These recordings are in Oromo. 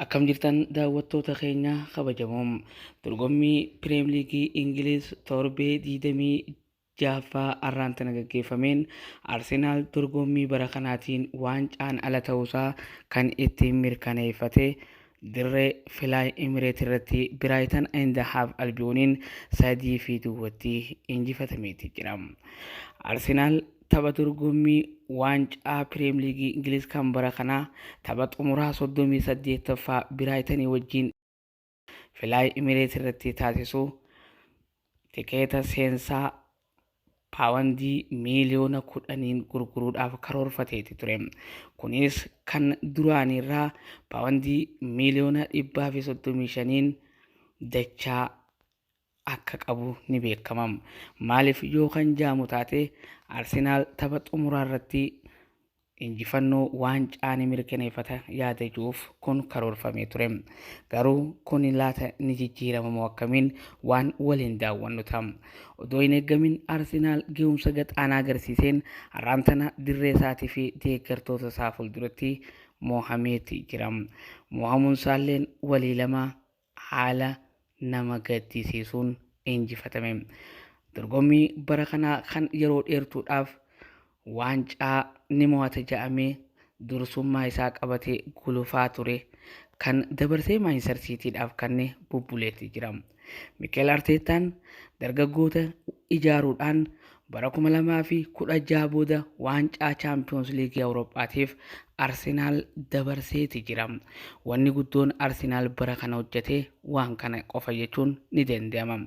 Akkam jirtan daawwattoota keenya kabajamoo dorgommii Pirimeer Liigii Ingiliiz torbee 26ffaa har'aan tana gaggeeffameen Arsenaal dorgommii bara kanaatiin waancaan ala ta'uusaa kan ittiin mirkaneeffate dirree Filaay Imireet irratti Biraayitan Inda Haaf Albiyooniin sadii fi duwwatti injifatameeti jira. Arsenaal Tapha dorgommii waancaa Piriim Liigii Ingiliz kan bara kanaa tapha xumuraa 38ffaa Biraayitanii wajjin Filaay Imireet irratti taasisu tikeeta seensaa paawandii miiliyoona kudhaniin gurguruudhaaf karoorfateeti ture. Kunis kan duraaniirraa paawandii miiliyoona dhibbaa fi soddomii shaniin dachaa akka qabu ni beekama. Maaliif yoo kan jaamu taate Arsenaal tapha xumuraa irratti injifannoo waancaa ni mirkaneeffata yaada jiruuf kun karoorfamee ture. Garuu kun laata ni jijjiiramamoo akkamiin waan waliin daawwannu ta'a. Odoo hin eegamin Arsenaal gahumsa gaxaanaa agarsiiseen har'aan tana dirree isaatii fi deeggartoota isaa fuulduratti moohameeti jira. Moohamuun isaalleen walii lama haala nama gaddisiisuun injifatame. Dorgommii bara kanaa kan yeroo dheertuudhaaf waancaa ni mo'ata jedhamee dursummaa isaa qabatee gulufaa ture kan dabarsee Maanchistar Siitiidhaaf kanne bubbuleetti jira. Mikeel Arteettaan dargaggoota ijaaruudhaan Bara 2016 booda waancaa Chaampiyoons Liigii Awuroophaatiif Arsenaal dabarseeti jira. Wanni guddoon Arsenaal bara kana hojjete waan kana qofa jechuun ni danda'ama.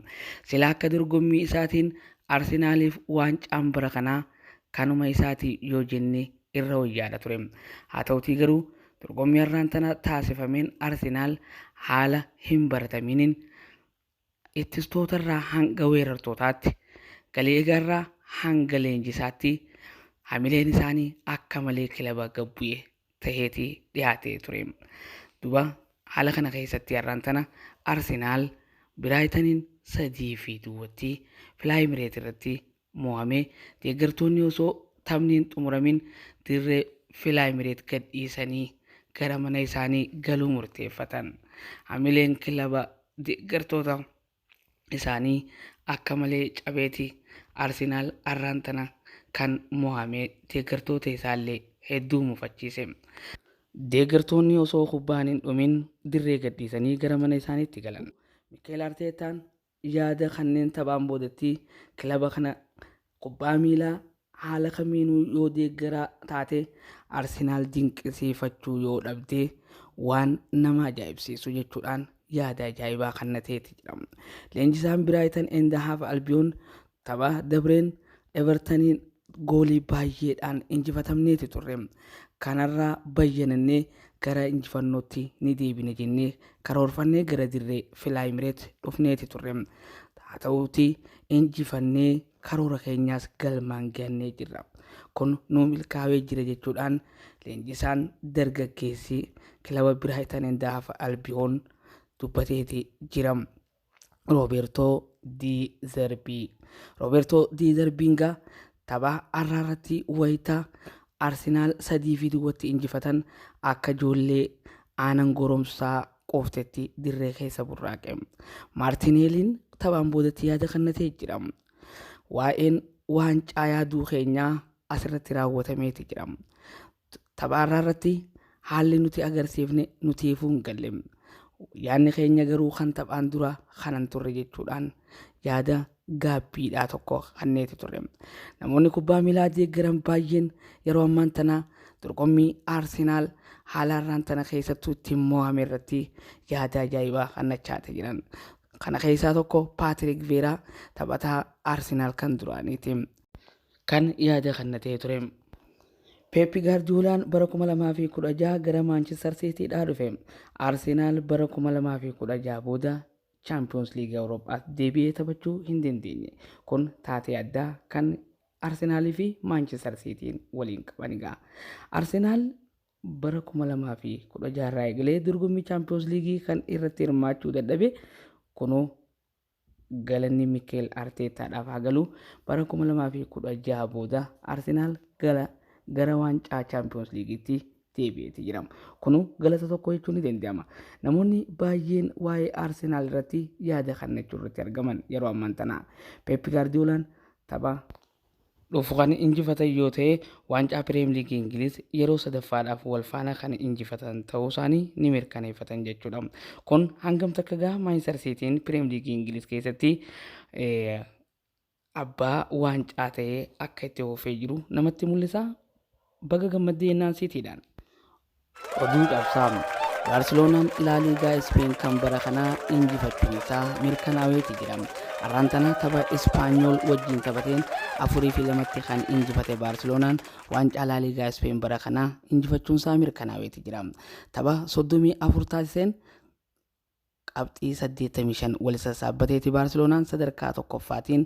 Sila akka dorgommii isaatiin Arsenaaliif waancaan bara kanaa kanuma isaati yoo jenne irra wayyaadha ture. Haa ta'utii garuu dorgommii har'aan tana taasifameen Arsenaal haala hin baratamiiniin Ittistoota-rraa hanga weerartootaatti, galeegaa-rraa hanga leenjisaatti hamileen isaanii akka malee kilaba gad bu'e taheeti dhihaatee ture. Duba haala kana keessatti har'aan tana Arsenaal Biraayitaniin 3 fi duwwatti Filaayimireet irratti mo'ame. Deeggartoonni osoo taphni hin xumuramin dirree Filaayimireet gadhiisanii gara mana isaanii galuu murteeffatan. Hamileen kilaba deeggartoota isaanii akka malee cabeeti Arsenaal arraan tana kan mo'ame deeggartoota isaallee hedduu mufachiise. Deeggartoonni osoo kubbaan hin dhumin dirree gadhiisanii gara mana isaaniitti galan. Mikeel Arteetaan Yaada kanneen taphaan boodatti kilaba kana kubbaa miilaa haala kamiinuu yoo deeggaraa taate Arsenaal dinqisiifachuu yoo dhabde waan nama ajaa'ibsiisu jechuudhaan yaada ajaa'ibaa kannateeti jedhama. Leenjisaan Biraayitan Eend Haaf Albiyoon Tapha dabreen Evertaniin goolii baay'eedhaan injifatamneeti turre. Kanarraa bayyanannee gara injifannootti ni deebina jennee karoorfannee gara dirree Filaayimireet dhufneeti turre. Haa ta'uutii injifannee karoora keenyaas galmaan gahannee jirra. Kun nuu milkaa'ee jira jechuudhaan leenjisaan dargaggeessi kilaba Biraayitan Indaaf Albiyoon dubbateeti jira. Roobeertoo Di Zerbii. Roobeertoo Di Zerbiin gaa tapha har'aa irratti wayita Arsenaal sadii fi duwwatti injifatan akka ijoollee aanan goromsaa quuftetti dirree keessa burraaqe. Maartineeliin taphaan boodatti yaada kannatee jira. Waa'een waancaa yaaduu keenyaa asirratti raawwatameeti jira. Tapha har'aa irratti haalli nuti agarsiifne nutiifuu hin galle. Yaadni keenya garuu kan taphaan dura kanan turre jechuudhaan yaada gaabbiidhaa tokko kanneeti turre. Namoonni kubbaa miilaa deeggaran baay'een yeroo ammaan tana dorgommii Arsenaal haala har'aan tana keessattuu ittiin mo'ame irratti yaada ajaa'ibaa kannachaati jiran. Kana keessaa tokko Paatirik Veeraa taphataa Arsenaal kan duraaniiti. kan yaada kennatee ture. Peep Gaardiyoolaan bara 2016 gara Maanchister Siitiidhaa dhufe. Arsenaal bara 2016 booda Chaampiyoons Liigii Awuroophaatti deebi'ee taphachuu hin dandeenye. Kun taatee addaa kan Arsenaalii fi Maanchister Siitiin waliin qabanidha. Arsenaal bara 2016 irraa eegalee dorgommii Chaampiyoons Liigii kan irratti hirmaachuu dadhabe kunoo Galanni Mikeel Arteettaadhaaf haa galu, bara 2016 booda Arsenaal gara gara waancaa Chaampiyoons Liigiitti deebi'eeti jira. Kunu galata tokko jechuun ni danda'ama. Namoonni baay'een waa'ee Arsenaal irratti yaada kennachuu irratti argaman yeroo ammaan tana. Peep Gaardiyoolaan tapha dhufu kan injifatan yoo ta'e waancaa Piriim Liigii Ingiliiz yeroo sadaffaadhaaf walfaana kan injifatan ta'uu isaanii ni mirkaneeffatan jechuudha. Kun hangam takka gaha Maanchistar Siitiin Piriim Liigii Ingiliiz keessatti abbaa waancaa ta'ee akka itti oofee jiru namatti mul'isa. Baga gammadde jennaan Siitiidhaan. Oduu cabsaa! Baarseloonaan Laa Liigaa Ispeen kan bara kanaa injifachuun isaa mirkanaa'eeti jira. Har'aan tana tapha Ispaanyool wajjin taphateen 4 fi 2tti kan injifate Baarseloonaan waancaa Laa Liigaa Ispeen bara kanaa injifachuun isaa mirkanaa'eeti jira. Tapha 34 taasiseen qabxii 85 wal sassaabbateeti Baarseloonaan sadarkaa tokkoffaatiin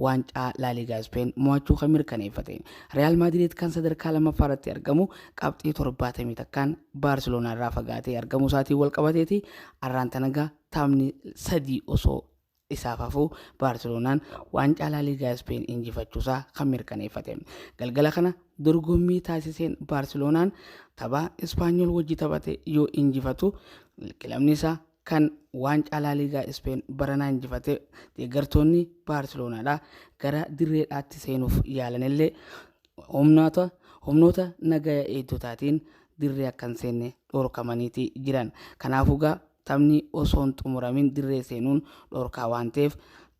waancaa Laaliigaa Ispeen mo'achuu kan mirkaneeffate. Riyaal Maadirid kan sadarkaa lammaffaa irratti argamu qabxii 71n Baarseloonaa irraa fagaatee argamuu isaatiin wal qabateeti arraan tanaga taphni sadii osoo isaaf hafu Baarseloonaan waancaa Laaliigaa Ispeen injifachuusaa kan mirkaneeffate. Galgala kana dorgommii taasiseen Baarseloonaan tapha Ispaanyool wajji taphate yoo injifatu kilabni isaa kan waancaa Laaliigaa Ispeen baranaa injifate deeggartoonni Baarseloonaadha gara dirreedhaatti seenuuf yaalanillee humnoota humnoota nagaya eegdotaatiin dirree akka hin seenne dhorkamaniiti jiran. Kanaafuu gaa Taphni osoo hin xumuramin dirree seenuun dhorkaa waan ta'eef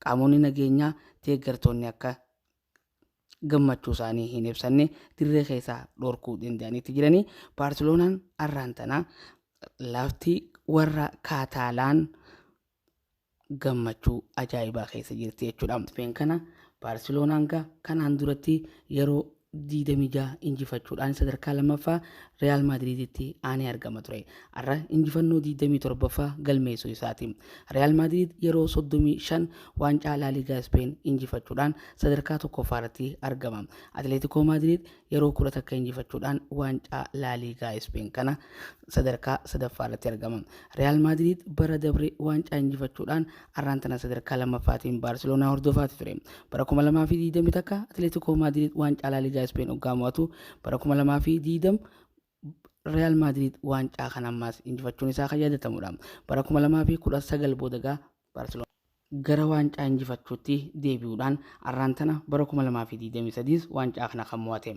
qaamonni nageenyaa deeggartoonni akka gammachuu isaanii hin ibsanne dirree keessaa dhorkuu danda'anitti jiranii Baarseloonaan arraan tana lafti warra Kaataalaan gammachuu ajaa'ibaa keessa jirti jechuudha. Ispeen kana Baarseloonaan gaa kanaan duratti yeroo 26 injifachuudhaan sadarkaa lammaffaa Riyaal Maadiriiditti aanee argama ture. Har'a injifannoo 27ffaa galmeessuu isaati. Riyaal Maadiriid yeroo 35 waancaa Laaliigaa Ispeen injifachuudhaan sadarkaa tokkoffaa irratti argama. Atileetikoo Maadiriid yeroo kudha takka injifachuudhaan waancaa Laaliigaa Ispeen kana sadarkaa sadaffaa irratti argama. Riyaal Maadiriid bara dabre waancaa injifachuudhaan arraan tana sadarkaa lammaffaatiin Baarseloonaa hordofaati ture. Bara 2020 takka Atileetikoo Maadiriid waancaa Laaliigaa Ispeen oggaa mo'atu bara 2020 Riyaal Maadiriid waancaa kana ammaas injifachuun isaa kan yaadatamudha. Bara 2019 booda egaa Baarseloonaa gara waancaa injifachuutti deebi'uudhaan arraan tana bara 2023s waancaa kana kan mo'ate.